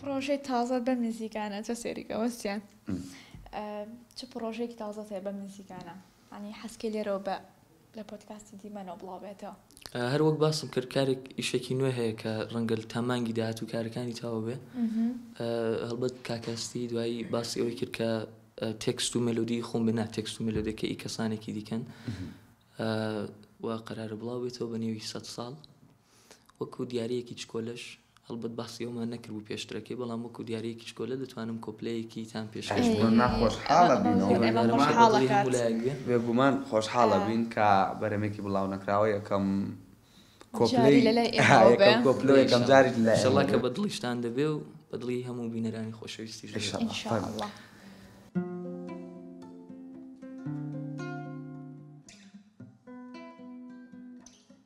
پڕۆژەی تازەت بەم نزیکانە چە سەیری کە وە سیان چ پڕۆژەیەکی تازەت هەیە بەم نزیکانە ئەنی حەسکەی لێرەوە بە لە پۆتکاستی دیمەنەوە بڵاوبێتەوە هەر وەک باسم کرد کارێک ئیشێکی نوێ هەیە کە ڕەنگەل تا مانگی داهات و کارەکانی تاوە بێ هەڵبەت کاکەستی دوایی باسی ئەوەی کرد کە تێکست و مەلودی خۆم بنا تێکست و مەلودەکە ئی کەسانێکی دیکەن و قەرارە بڵاو بێتەوە بە نێوی سە ساڵ وەکو دیارەکی چکۆلش هەڵبەت باسی ئەومان نەکردبوو پێشترەکەی، بەڵام وەکو دیارییەکی چکۆلە دەتوانم کۆپلەیەکی تان پێشکەش بکەم. بێگومان خۆشحاڵە بین و بێگومان خۆشحاڵە بین کە بەرەمێکی بڵاونەکراوە یەکەم کۆپلەی یەکەم کۆپلە و یەکەم جاری لەلای ئێمە بێ. ئیشەڵا کە بە دڵیشتان دەبێ و بە دڵی هەموو بینەرانی خۆشەویستیش دەبێ. ئیشەڵا.